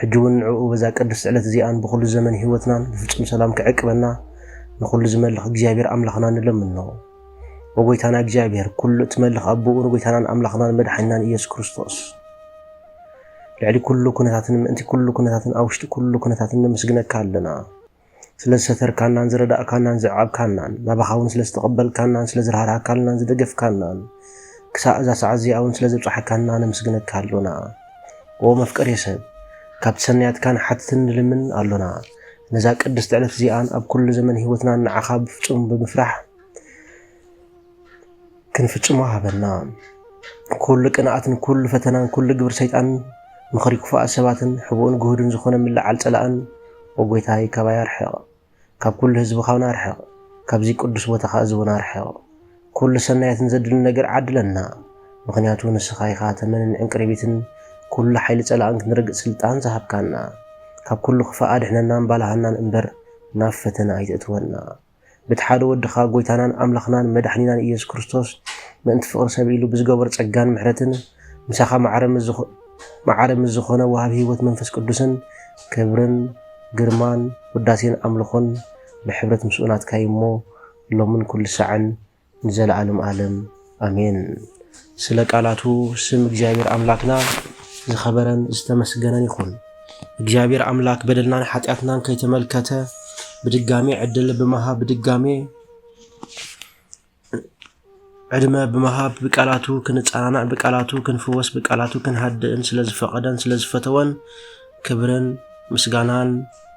ሕጂ ውን ንዕኡ በዛ ቅድስት ዕለት እዚኣን ብኹሉ ዘመን ሕይወትናን ብፍጹም ሰላም ክዕቅበና ንኹሉ ዝመልኽ እግዚኣብሔር ኣምላኽና ንለምኖ። ኦ ጎይታና እግዚኣብሔር ኩሉ እትመልኽ ኣቦኡ ንጎይታናን ኣምላኽናን መድሓኒናን ኢየሱስ ክርስቶስ ልዕሊ ኩሉ ኩነታትን ምእንቲ ኩሉ ኩነታትን ኣብ ውሽጢ ኩሉ ኩነታትን ነመስግነካ ኣለና። ስለ ዝሰተርካናን ዝረዳእካናን ዘዕቐብካናን ናባኻ ውን ስለ ዝተቐበልካናን ስለ ዝራህራህካልናን ዝደገፍካናን ክሳእ እዛ ሰዓት እዚኣ ውን ስለ ዘብጻሕካና ነምስግነካ ኣሎና ኦ መፍቀሬ ሰብ ካብቲ ሰናያትካ ንሓትትን ንልምን ኣሎና ነዛ ቅድስቲ ዕለት እዚኣን ኣብ ኩሉ ዘመን ህይወትናን ንዓኻ ብፍጹም ብምፍራሕ ክንፍጽሞ ሃበና። ኩሉ ቅንኣትን ኩሉ ፈተናን ኩሉ ግብሪ ሰይጣን ምኽሪ ክፉኣት ሰባትን ሕቡእን ግሁድን ዝኾነ ምልዓል ጸላእን ኦ ጎይታይ ካባይ ኣርሕቕ። ካብ ኩሉ ህዝቢ ካብና ኣርሕቕ። ካብዚ ቅዱስ ቦታኻ እዚ እውን ኣርሕቕ። ኩሉ ሰናያትን ዘድሊ ነገር ዓድለና። ምኽንያቱ ንስኻ ኢኻ ተመንን ዕንቅሪቢትን ኩሉ ሓይሊ ጸላእን ክንረግጽ ስልጣን ዝሃብካና። ካብ ኩሉ ክፋእ ኣድሕነናን ባልሃናን እምበር ናብ ፈተነ ኣይተእትወና። በቲ ሓደ ወድኻ ጎይታናን ኣምላኽናን መድሕኒናን ኢየሱስ ክርስቶስ ምእንቲ ፍቕሪ ሰብ ኢሉ ብዝገበሮ ጸጋን ምሕረትን ምሳኻ መዓረ ምስ ዝኾነ ወሃቢ ህይወት መንፈስ ቅዱስን ክብርን ግርማን ውዳሴን ኣምልኾን ብሕብረት ምስኡ ናትካ እዩ እሞ ሎምን ኩሉ ሳዕን ንዘለዓለም ኣለም ኣሜን። ስለ ቃላቱ ስም እግዚኣብሔር ኣምላክና ዝኸበረን ዝተመስገነን ይኹን። እግዚኣብሔር ኣምላክ በደልናን ሓጢኣትናን ከይተመልከተ ብድጋሜ ዕድል ብምሃብ ብድጋሜ ዕድመ ብምሃብ ብቃላቱ ክንጸናናዕ ብቃላቱ ክንፍወስ ብቃላቱ ክንሃድእን ስለዝፈቐደን ስለዝፈተወን ክብርን ምስጋናን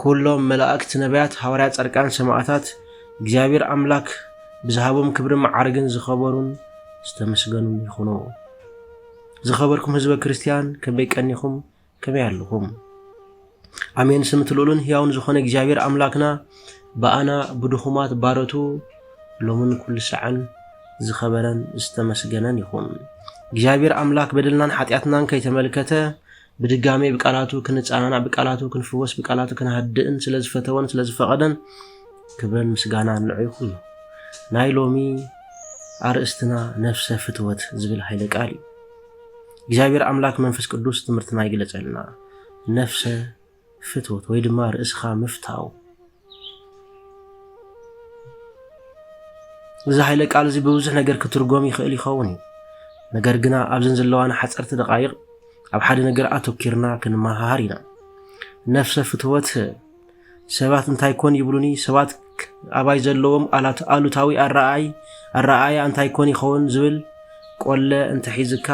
ኩሎም መላእክት ነብያት ሃዋርያት ጻድቃን ሰማእታት እግዚኣብሔር ኣምላክ ብዝሃቦም ክብርን መዓርግን ዝኸበሩን ዝተመስገኑን ይኹኑ። ዝኸበርኩም ህዝበ ክርስቲያን ከመይ ቀኒኹም ከመይ ኣለኹም? ኣሜን ስምቲ ልኡልን ሕያውን ዝኾነ እግዚኣብሔር ኣምላክና ብኣና ብድኹማት ባረቱ ሎምን ኩሉ ሰዐን ዝኸበረን ዝተመስገነን ይኹን። እግዚኣብሔር ኣምላክ በደልናን ሓጢኣትናን ከይተመልከተ ብድጋሜ ብቃላቱ ክንጸናናዕ ብቃላቱ ክንፍወስ ብቃላቱ ክንሃድእን ስለ ዝፈተወን ስለ ዝፈቐደን ክብረን ምስጋናን ንዑ ይኹን። ናይ ሎሚ ኣርእስትና ነፍሰ ፍትወት ዝብል ሃይለ ቃል እዩ። እግዚኣብሔር ኣምላክ መንፈስ ቅዱስ ትምህርትና ይግለጸልና። ነፍሰ ፍትወት ወይ ድማ ርእስኻ ምፍታው። እዚ ሓይለ ቃል እዚ ብብዙሕ ነገር ክትርጎም ይኽእል ይኸውን እዩ። ነገር ግና ኣብዘን ዘለዋና ሓፀርቲ ደቃይቕ ኣብ ሓደ ነገር ኣተኪርና ክንመሃሃር ኢና። ነፍሰ ፍትወት ሰባት እንታይ ኮን ይብሉኒ፣ ሰባት ኣባይ ዘለዎም ኣሉታዊ ኣረኣይ ኣረኣያ እንታይ ኮን ይኸውን ዝብል ቆለ እንተሒዝካ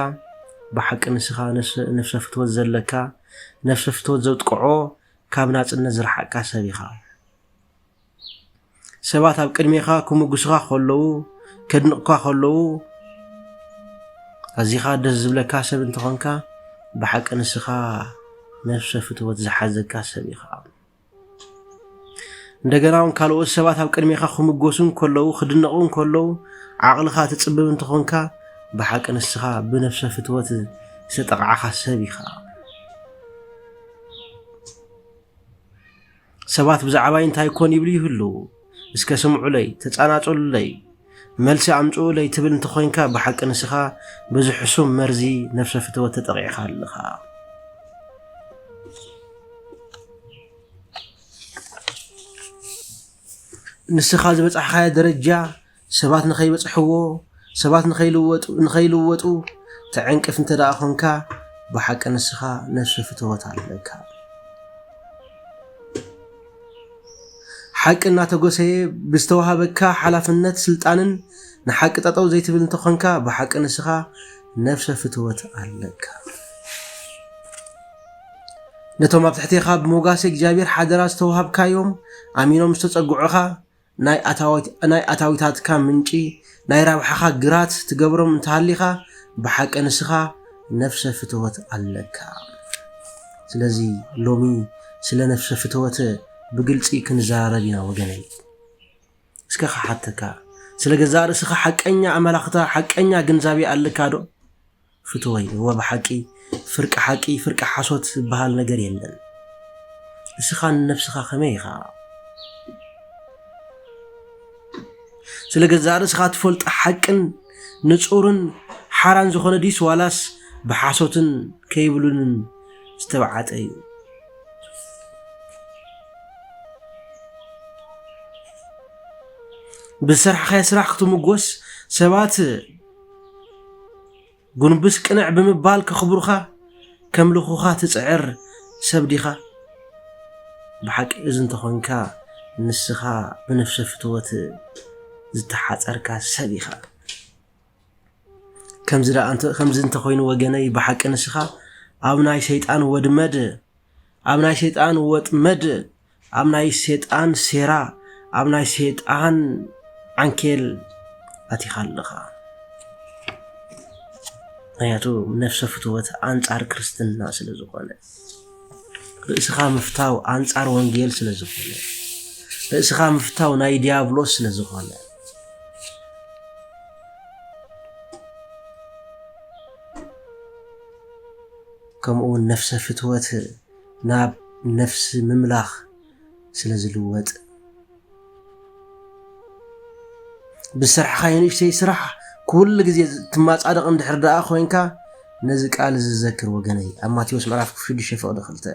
ብሓቂ ንስኻ ነፍሰ ፍትወት ዘለካ ነፍሰ ፍትወት ዘጥቅዖ ካብ ናጽነት ዝረሓቅካ ሰብ ኢኻ ሰባት ኣብ ቅድሜኻ ክምጉስኻ ከለዉ ከድንቕካ ከለዉ ኣዚኻ ደስ ዝብለካ ሰብ እንተኾንካ ብሓቂ ንስኻ ነፍሰ ፍትወት ዝሓዘካ ሰብ ኢኻ እንደገና እውን ካልኦት ሰባት ኣብ ቅድሜኻ ክምጎሱ እንከለዉ ክድነቑ እንከለዉ ዓቕልኻ ትፅብብ እንተኾንካ ብሓቂ ንስኻ ብነፍሰ ፍትወት ዝተጠቕዓኻ ሰብ ኢኻ ሰባት ብዛዕባይ እንታይ ኮን ይብሉ ይህልው እስከ ስምዑለይ ተጻናጹሉለይ መልሲ ኣምጽኡለይ ትብል እንተኾይንካ ብሓቂ ንስኻ በዚ ሕሱም መርዚ ነፍሰ ፍትወት ተጠቂዕኻ ኣለኻ። ንስኻ ዝበጻሕኻዮ ደረጃ ሰባት ንኸይበጽሕዎ፣ ሰባት ንኸይልወጡ ንኸይልወጡ ተዕንቅፍ እንተ ደኣ ኾንካ ብሓቂ ንስኻ ነፍሰ ፍትወት ኣለካ። ሓቂ እናተጎሰየ ብዝተዋሃበካ ሓላፍነት ስልጣንን ንሓቂ ጠጠው ዘይትብል እንተኾንካ ብሓቂ ንስኻ ነፍሰ ፍትወት ኣለካ። ነቶም ኣብ ትሕቴኻ ብሞጋሴ እግዚኣብሔር ሓደራ ዝተዋሃብካዮም ኣሚኖም ዝተጸግዑኻ ናይ ኣታዊታትካ ምንጪ ናይ ራብሓኻ ግራት ትገብሮም እንተሃሊኻ ብሓቂ ንስኻ ነፍሰ ፍተወት ኣለካ። ስለዚ ሎሚ ስለ ነፍሰ ፍተወት ብግልጺ ክንዘራረብ ኢና ወገነይ። እስከ ክሓተካ ስለ ገዛእ ርእስኻ ሓቀኛ ኣመላኽታ ሓቀኛ ግንዛቤ ኣለካ ዶ? ፍትወይ እወ ብሓቂ ፍርቂ ሓቂ ፍርቂ ሓሶት ዝብሃል ነገር የለን እስኻ ንነብስኻ ከመይ ኢኻ ስለ ገዛእ ርእስኻ ትፈልጦ ሓቅን ንጹርን ሓራን ዝኾነ ዲስ ዋላስ ብሓሶትን ከይብሉንን ዝተብዓጠ እዩ ብዝሰርሕኻዮ ስራሕ ክትምጎስ ሰባት ጉንብስ ቅንዕ ብምባል ከኽብሩኻ ከምልኹኻ ትጽዕር ሰብ ዲኻ? ብሓቂ እዚ እንተኾንካ ንስኻ ብነፍሰ ፍትወት ዝተሓጸርካ ሰብ ኢኻ። ከምዚ እንተኾይኑ ወገነይ ብሓቂ ንስኻ ኣብ ናይ ሰይጣን ወድመድ ኣብ ናይ ሰይጣን ወጥመድ ኣብ ናይ ሰይጣን ሴራ ኣብ ናይ ሰይጣን ዓንኬል ኣቲኻ ኣለኻ ምክንያቱ ነፍሰ ፍትወት ኣንጻር ክርስትና ስለ ዝኾነ ርእስኻ ምፍታው ኣንጻር ወንጌል ስለ ዝኾነ ርእስኻ ምፍታው ናይ ዲያብሎስ ስለ ዝኾነ ከምኡውን ነፍሰ ፍትወት ናብ ነፍሲ ምምላኽ ስለ ዝልወጥ። ብዝሰርሕኻዮ ንእሽተይ ስራሕ ኩሉ ግዜ ትማጻደቕ እንድሕር ደኣ ኮይንካ ነዚ ቃል እዚ ዘክር ወገነይ ኣብ ማቴዎስ ምዕራፍ ሽዱሽተ ፍቕዲ ክልተ።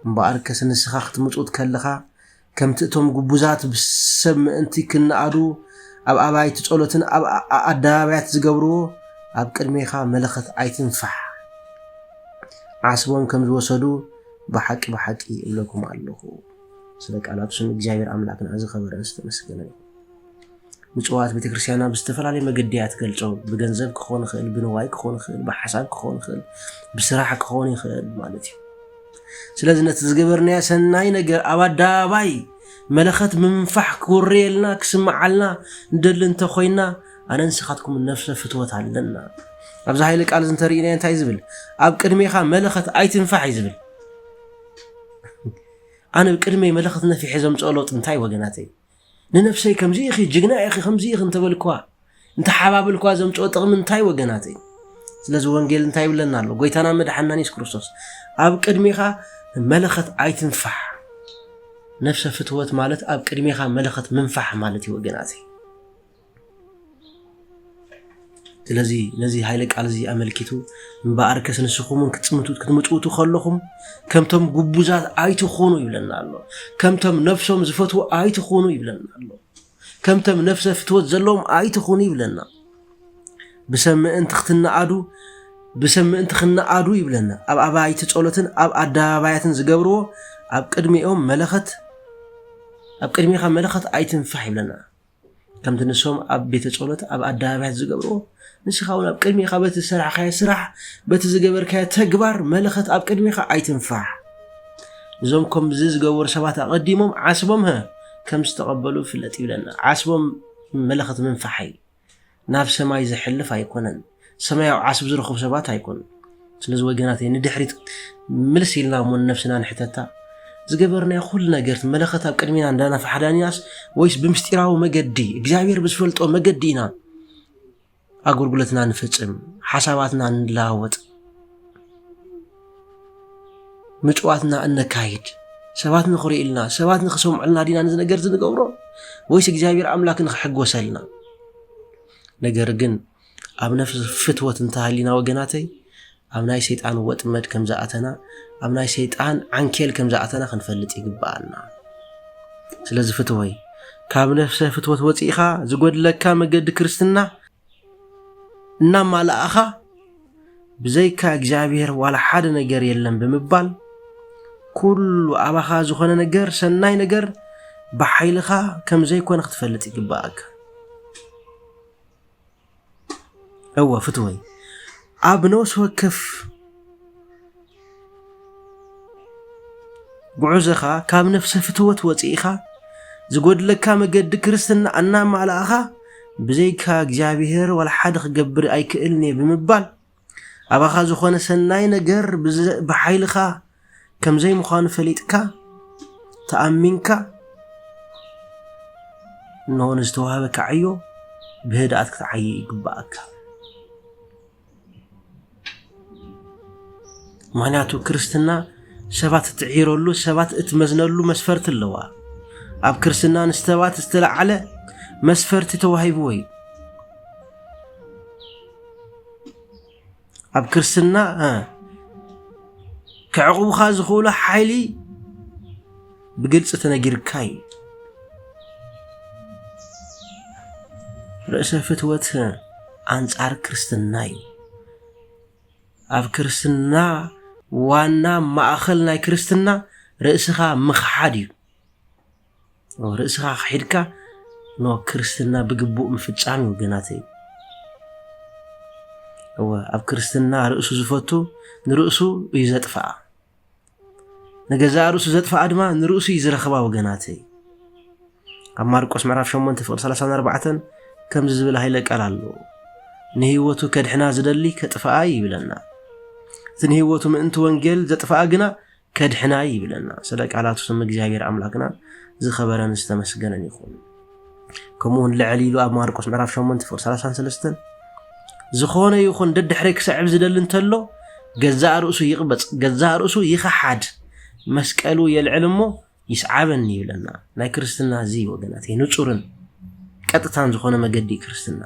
እምበኣርከስ ንስኻ ክትምጹት ከለኻ፣ ከምቲ እቶም ግቡዛት ብሰብ ምእንቲ ኪነኣዱ ኣብ ኣባይቲ ጸሎትን ኣብ ኣኣደባባያት ዚገብርዎ፣ ኣብ ቅድሜኻ መለኸት ኣይትንፋሕ። ዓስቦም ከም ዝወሰዱ ብሓቂ ብሓቂ እብለኩም ኣሎኹ። ስለ ቃላቱ ስም እግዚኣብሄር ኣምላክና ዝከበረን ዝተመስገነ ይኩን። ምጽዋት ቤተክርስቲያና ብዝተፈላለየ መገዲ እያ ትገልጾ። ብገንዘብ ክኾን ይኽእል፣ ብንዋይ ክኾን ይኽእል፣ ብሓሳብ ክኾን ይኽእል፣ ብስራሕ ክኾን ይኽእል ማለት እዩ። ስለዚ ነቲ ዝገበርናዮ ሰናይ ነገር ኣብ ኣደባባይ መለኸት ምንፋሕ ክውረየልና ክስምዓልና ንደሊ እንተኾይና ኣነ ንስኻትኩም ነፍሰ ፍትወት ኣለና። ኣብዚ ሃይለ ቃል እዚ እንተርኢናዮ እንታይ ዝብል ኣብ ቅድሜኻ መለኸት ኣይትንፋሕ እዩ ዝብል ኣነ ቅድመይ መለኸት ነፊሐ ዘምፅኦ ለውጢ እንታይ ወገናተይ ንነብሰይ ከምዚ ኢኺ ጅግና ኢኺ ከምዚ ኢኺ እንተበልክዋ እንተሓባብልክዋ ዘምጽኦ ጥቕሚ እንታይ ወገናተይ ስለዚ ወንጌል እንታይ ይብለና ኣሎ ጎይታና መድሓናን የሱስ ክርስቶስ ኣብ ቅድሚኻ መለኸት ኣይትንፋሕ ነፍሰ ፍትወት ማለት ኣብ ቅድሚኻ መለኸት ምንፋሕ ማለት እዩ ወገናት ስለዚ ነዚ ሃይለ ቃል እዚ ኣመልኪቱ እምበኣር ከስ ንስኹም እውን ክትምቱት ክትምፅውቱ ከለኹም ከምቶም ጉቡዛት ኣይትኾኑ ይብለና ኣሎ ከምቶም ነፍሶም ዝፈትዉ ኣይትኾኑ ይብለና ኣሎ ከምቶም ነፍሰ ፍትወት ዘለዎም ኣይትኹኑ ይብለና ብሰብ ምእንቲ ክትነኣዱ ብሰብ ምእንቲ ክነኣዱ ይብለና ኣብ ኣባይቲ ጸሎትን ኣብ ኣደባባያትን ዝገብርዎ ኣብ ቅድሚኦም መለኸት ኣብ ቅድሚኻ መለኸት ኣይትንፋሕ ይብለና ከምቲ ንሶም ኣብ ቤተ ጸሎት ኣብ ኣደባባያት ዝገብርዎ ንስኻ እውን ኣብ ቅድሚኻ በቲ ዝሰራሕካዮ ስራሕ በቲ ዝገበርካዮ ተግባር መለኸት ኣብ ቅድሚኻ ኣይትንፋሕ እዞም ከምዚ ዝገበሩ ሰባት ኣቐዲሞም ዓስቦም ከም ዝተቐበሉ ፍለጥ ይብለና ዓስቦም መለኸት ምንፋሕ እዩ ናብ ሰማይ ዘሕልፍ ኣይኮነን ሰማያዊ ዓስቢ ዝረኽቡ ሰባት ኣይኮኑን ስለዚ ወገናተይ ንድሕሪት ምልስ ኢልና እሞ ንነብስና ንሕተታ ዝገበርናዮ ኩሉ ነገር መለኸት ኣብ ቅድሚና እንዳናፋሓዳኒናስ ወይስ ብምስጢራዊ መገዲ እግዚኣብሔር ብዝፈልጦ መገዲ ኢና ኣገልግሎትና ንፍጽም ሓሳባትና ንለዋወጥ ምጭዋትና እነካይድ ሰባት ንኽርእዩልና ሰባት ንኽሰምዑልና ዲና ነዚ ነገር እዚ ንገብሮ ወይስ እግዚኣብሔር ኣምላክ ንኽሕጎሰልና ነገር ግን ኣብ ነፍሲ ፍትወት እንተሃሊና ወገናተይ ኣብ ናይ ሰይጣን ወጥመድ ከም ዝኣተና ኣብ ናይ ሰይጣን ዓንኬል ከም ዝኣተና ክንፈልጥ ይግብኣና ስለዚ ፍትወይ ካብ ነፍሰ ፍትወት ወፂእኻ ዝጎድለካ መገዲ ክርስትና እናማላእኻ ብዘይካ እግዚኣብሔር ዋላ ሓደ ነገር የለን ብምባል ኩሉ ኣባኻ ዝኾነ ነገር ሰናይ ነገር ብሓይልኻ ከም ዘይኮነ ክትፈልጥ ይግባእካ እወ ፍትወይ ኣብ ነፍሲ ወከፍ ጉዑዞኻ ካብ ነፍሰ ፍትወት ወጺእኻ ዝጎድለካ መገዲ ክርስትና እናማላእኻ ብዘይካ እግዚኣብሔር ዋላ ሓደ ክገብር ኣይክእልን እየ ብምባል ኣባኻ ዝኾነ ሰናይ ነገር ብሓይልኻ ከም ዘይምዃኑ ፈሊጥካ ተኣሚንካ እነሆ ንዝተዋህበካ ዕዮ ብህድኣት ክትዓይ ይግባእካ። ምክንያቱ ክርስትና ሰባት እትዒረሉ ሰባት እትመዝነሉ መስፈርቲ ኣለዋ ኣብ ክርስትና ንሰባት ዝተለዓለ መስፈርቲ ተዋሂብዎ እዩ ኣብ ክርስትና ከዕቑብኻ ዝኽእሉ ሓይሊ ብግልፂ ተነጊርካ እዩ። ርእሰ ፍትወት ኣንጻር ክርስትና እዩ። ኣብ ክርስትና ዋና ማእኸል ናይ ክርስትና ርእስኻ ምኽሓድ እዩ። ርእስኻ ክሒድካ ኖ ክርስትና ብግቡእ ምፍጻም እዩ ወገናተይ። እወ ኣብ ክርስትና ርእሱ ዝፈቱ ንርእሱ እዩ ዘጥፍኣ። ንገዛእ ርእሱ ዘጥፍኣ ድማ ንርእሱ እዩ ዝረኽባ ወገናተይ ኣብ ማርቆስ ምዕራፍ 8 ፍቕዲ 34 ከምዚ ዝብል ሃይለ ቃል ኣሎ ንህይወቱ ከድሕና ዝደሊ ከጥፍኣ ይብለና እቲ ንህይወቱ ምእንቲ ወንጌል ዘጥፍኣ ግና ከድሕና ይብለና ስለ ቃላቱ ስም እግዚኣብሔር ኣምላክና ዝኸበረን ዝተመስገነን ይኹን ከምኡ ውን ልዕል ኢሉ ኣብ ማርቆስ ምዕራፍ 8 ፍቕዲ 33 ዝኾነ ይኹን ደድሕረይ ክሰዕብ ዝደሊ እንተሎ ገዛእ ርእሱ ይቕበፅ፣ ገዛእ ርእሱ ይኸሓድ፣ መስቀሉ የልዕል እሞ ይስዓበኒ ይብለና። ናይ ክርስትና እዚ ወገናት ንፁርን ቀጥታን ዝኾነ መገዲ ክርስትና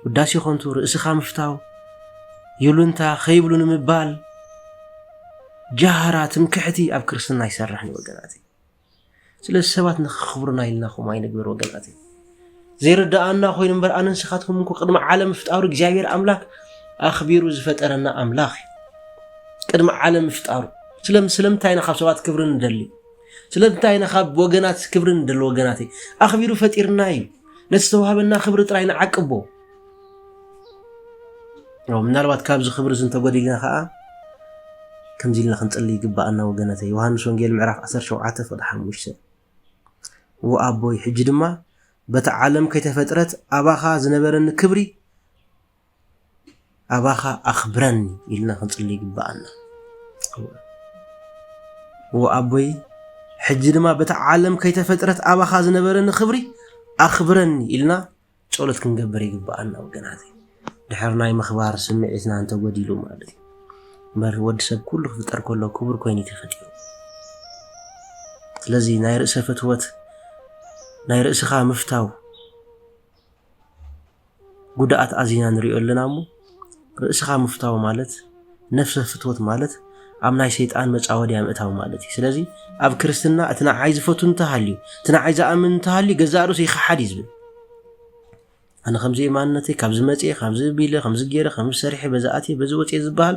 ውዳሴ ኮንቱ ርእስኻ ምፍታው ይሉንታ ከይብሉ ንምባል ጃህራ ትምክሕቲ ኣብ ክርስትና ይሰርሕ ወገናት ስለዚ ሰባት ንክኽብሩና ኢልና ከምኡ ኣይንግበር ወገናት ዘይርድኣና ኮይኑ እምበር ኣነ ንስኻትኩም እንኮ ቅድሚ ዓለም ምፍጣሩ እግዚኣብሔር ኣምላክ ኣኽቢሩ ዝፈጠረና ኣምላኽ እዩ ቅድሚ ዓለም ምፍጣሩ ስለምንታይ ኢና ካብ ሰባት ክብሪ ንደሊ ስለምንታይ ኢና ካብ ወገናት ክብሪ ንደሊ ወገናት ኣኽቢሩ ፈጢርና እዩ ነቲ ዝተዋህበና ክብሪ ጥራይ ንዓቅቦ ምናልባት ካብዚ ክብሪ እዚ እንተጎዲልና ከዓ ከምዚ ኢልና ክንጽሊ ይግባኣና ወገነተ ዮሃንስ ወንጌል ምዕራፍ 17 ፍቅዲ 5 ወኣቦይ ሕጂ ድማ በቲ ዓለም ከይተፈጥረት ኣባኻ ዝነበረኒ ክብሪ ኣባኻ ኣኽብረኒ ኢልና ክንጽሊ ይግባኣና ወኣቦይ ሕጂ ድማ በቲ ዓለም ከይተፈጥረት ኣባኻ ዝነበረኒ ክብሪ ኣኽብረኒ ኢልና ጸሎት ክንገብር ይግብኣና ወገናተይ። ድሕሪ ናይ ምኽባር ስምዒትና እንተጎዲሉ ማለት እዩ። እምበር ወዲ ሰብ ኩሉ ክፍጠር ከሎ ክቡር ኮይኑ ተፈጢሩ። ስለዚ ናይ ርእሰ ፍትወት ናይ ርእስኻ ምፍታው ጉድኣት ኣዚና ንሪኦ ኣለና እሞ ርእስኻ ምፍታው ማለት ነፍሰ ፍትወት ማለት ኣብ ናይ ሰይጣን መጻወድያ ምእታው ማለት እዩ ስለዚ ኣብ ክርስትና እቲ ንዓይ ዝፈቱ እንተሃልዩ እቲ ንዓይ ዝኣምን እንተሃልዩ ገዛእ ርእሱ ይኸሓድ እዩ ዝብል ኣነ ከምዚ የማንነተይ ካብዚ መፅኤ ካብዚ ቢለ ከምዚ ገይረ ከምዚ ሰሪሐ በዚ ኣትየ በዚ ወፅኤ ዝበሃል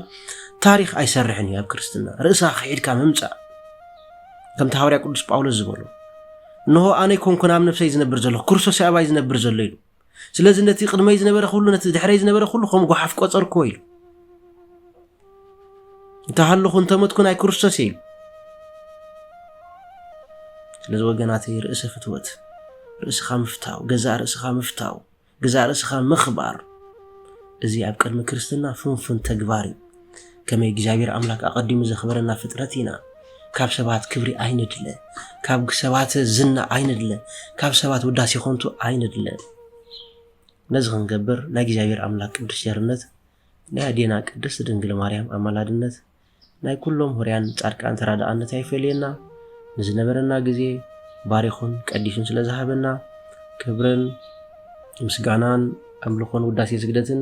ታሪክ ኣይሰርሕን እዩ ኣብ ክርስትና ርእሳ ክሒድካ ምምፃእ ከምቲ ሃዋርያ ቅዱስ ጳውሎስ ዝበሎ እንሆ ኣነ ኮንኩን ኣብ ነፍሰይ ዝነብር ዘለኹ ክርስቶስ ኣባይ ዝነብር ዘሎ ኢሉ ስለዚ ነቲ ቅድመይ ዝነበረ ኩሉ ነቲ ድሕረይ ዝነበረ ኩሉ ከም ጓሓፍ ቆጸርክዎ ኢሉ እንተሃለኹ እንተመትኩ ናይ ክርስቶስ እየ ኢሉ ስለዚ ወገናተይ ርእሰ ፍትወት ርእስኻ ምፍታው ገዛእ ርእስኻ ምፍታው ገዛእ ርእስኻ ምኽባር እዚ ኣብ ቅድሚ ክርስትና ፍንፉን ተግባር እዩ ከመይ እግዚኣብሔር ኣምላክ ኣቀዲሙ ዘክበረና ፍጥረት ኢና ካብ ሰባት ክብሪ ኣይንድለ ካብ ሰባት ዝና ኣይንድለ ካብ ሰባት ውዳሴ ኮንቱ ኣይንድለ ነዚ ክንገብር ናይ እግዚኣብሔር ኣምላክ ቅዱስ ጀርነት ናይ ኣዴና ቅድስት ድንግል ማርያም ኣማላድነት ናይ ኩሎም ሁርያን ጻድቃን ተራዳኣነት ኣይፈለየና ንዝነበረና ግዜ ባሪኹን ቀዲሱን ስለ ዝሃበና ክብርን ምስጋናን ኣምልኾን ውዳሴ ስግደትን